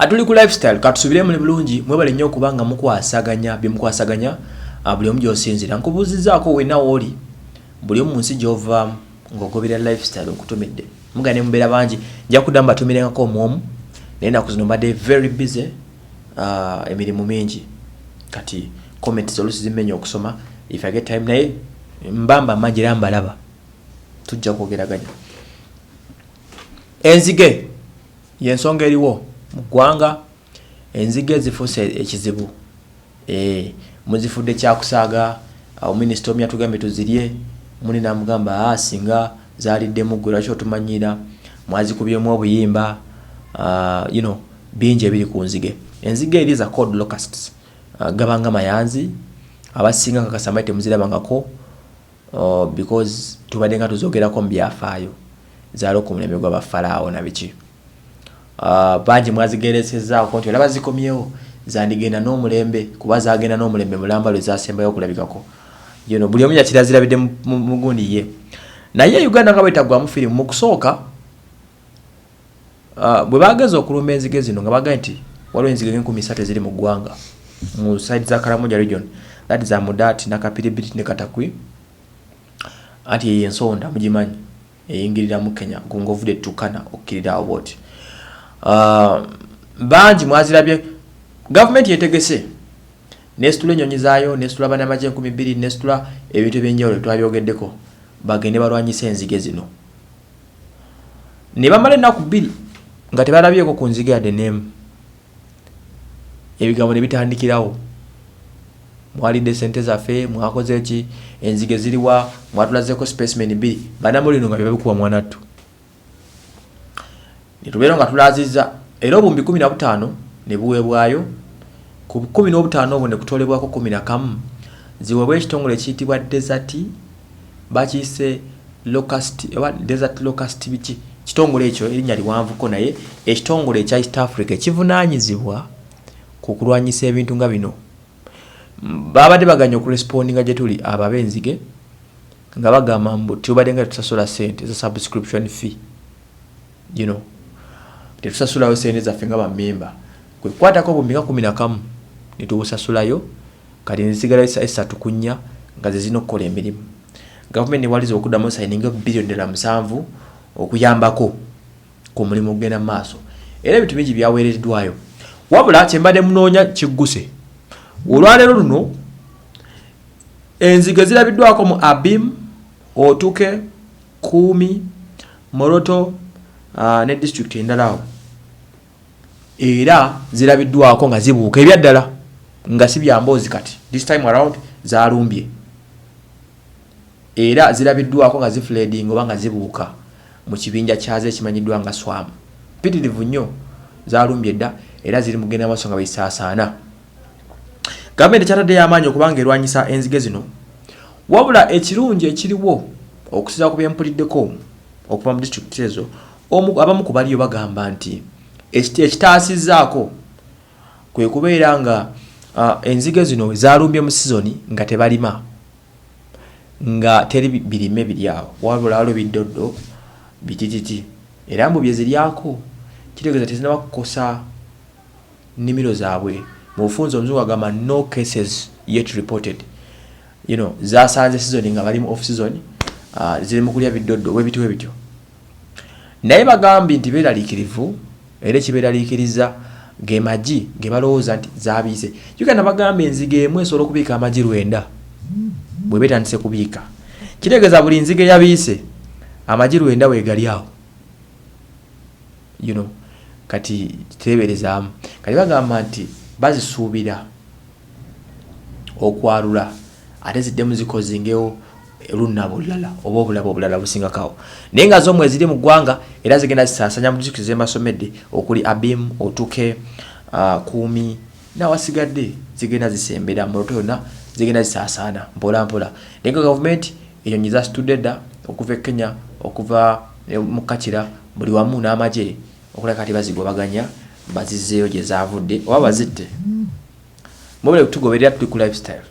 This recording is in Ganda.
atuli ku lifestyle katusubire muli bulungi mwebale nnyo okuba nga mukwasaganya byemukwasaganya ah, buli omu gyosinzira nkubuuzizaako wena wooli buli omu munsi gyovaamu ng'ogobera lifestyle nkutumidde muga ne mubeera bangi nja kuddamu batumirengako omwomu naye naku zino mbadde very busy ah, emirimu mingi kati comments olusi zimmenya okusoma if i get time naye mbamba mangi era mbalaba tujja kwogeraganya enzige yensonga eriwo mu ggwanga enzige zifuuse ekizibu eh, muzifudde kyakusaaga awo minisita omu yatugambye tuzirye muni namugamba a ah, singa zaliddemu gwe lwaki otumanyiira mwazikubyemu obuyimba ah, you know bingi ebiri ku nzige enzige eri za cod locusts ah, gabanga mayanzi abasinga kakasamayi temuzirabangako Oh because tubadde nga tuzogerako mu byafaayo zaalo ku mulembe gwa bafalaawo na biki uh, bangi mwazigeresezaako nti olaba zikomyewo zandigenda n'omulembe kuba zagenda n'omulembe mulamba lwe zasembayo okulabikako you know, buli omu yakirazirabidde mugundi ye naye uganda nga bwetagwamu firimu mu kusooka Ah, bwe baageza okulumba enzige zino nga bagaye nti waliwo enzige enkumi satu eziri mu ggwanga mu side za karamoja region that is amudaati nakapiribiti ne katakwi anti eyo ensonda mugimanyi eyingirira mu kenya gunga ovudde tukana okkirira awo bwoti ah, bangi mwazirabye gavumenti yetegese nesitula enyonyi zaayo nesitula banamaje enkumi bbiri nesitula ebintu ebyenjawulo twabyogeddeko bagende balwanyisa enzige zino ne bamala ennaku bbiri nga tebalabyeko ku nziga yadde n'emu ebigambo ne bitandikirawo mwalidde sente zaffe mwakoze ki enzige ziriwa mwatulazeeko specimen bbiri banamulino nga byebabikuba mwanattu Ne tubeera nga tulaazizza, era obuwumbi kkumi na butaano ne buweebwayo, ku kkumi n'obutaano obwo ne kutoolebwako kkumi na kamu, ziweebwe ekitongole ekiyitibwa Desert, bakiyise Locust, oba Desert Locust biki, kitongole ekyo, erinnya liwanvuko, naye ekitongole ekya East Africa ekivunaanyizibwa ku kulwanyisa ebintu nga bino, baabadde baganye okurespondinga gye tuli, abo ab'enzige, nga bagamba mbu tubaddenga tetusasula ssente za subscription fee. you know tetusasulayo sente zaffe nga bamemba kwekukwatako bumbi nga kumi nakamu netubusasulayo kati nezisigala esatu kunya nga zezina okukola emirimu gavumenti newaliza okuddamu sayininga biliyoni ddala musanvu okuyambako ku mulimu okugenda mu maaso era ebintu bingi byaweereddwayo wabula kyembadde munoonya kigguse olwaleero luno enzige zirabiddwako mu abim otuke Kuumi, Moroto ne disitulikiti endala awo era zirabiddwaako nga zibuuka ebya ddala nga si bya mboozi kati this time around zalumbye era zirabiddwaako nga zifuleedinga oba nga zibuuka mu kibinja kyazo ekimanyiddwa nga Swarm. Mpitirivu nnyo, zalumbye dda era ziri mu kugenda mu maaso nga bwe zisaasaana. gavumenti ekyataddeyo amaanyi okubanga erwanyisa enzige zino wabula ekirungi ekiriwo okusinza ku byempuliddeko okuva mu disitulikiti ezo abamu ku baliyo bagamba nti ekitaasizzaako kwe kubeera nga enzige zino zalumbye mu sizoni nga tebalima nga teri birime biryawo wabula waliwo biddoddo bitititi era mbu byeziryako kitegeeza tezinaba kukosa nimiro zabwe mubufunze omuzungu agamba no cases yet reported you know zasanze season nga bali mu off season uh, ziri mukulya biddoddo webiti webityo naye bagambye nti beralikirivu era ekiberalikiriza ge magi ge balowooza nti zabiise uganda bagamba enziga emu esobola okubiika amagi lwenda bwe betandise kubiika kitegeeza buli nziga eyabiise amagi lwenda wegali awo you know kati teberezaamu kati bagamba nti bazisuubira okwalula ate ziddemu zikozingewo lunabo olulala oba obulabo obulala busingakawo naye nga zo mweziri mu ggwanga era zigenda zisaasanya mu disitulikiti zemasomedde okuli abim otuke uh, kuumi n'awasigadde zigenda zisembera mu loto yonna zigenda zisaasaana mpola mpola naye nga gavumenti enyonyi zasitudde dda okuva e kenya okuva eh, mu kakira buli wamu n'amagye okulaka kati bazigobaganya bazizzeeyo gye zaavudde oba bazitte mwebale kutugoberera tuli ku lifestyle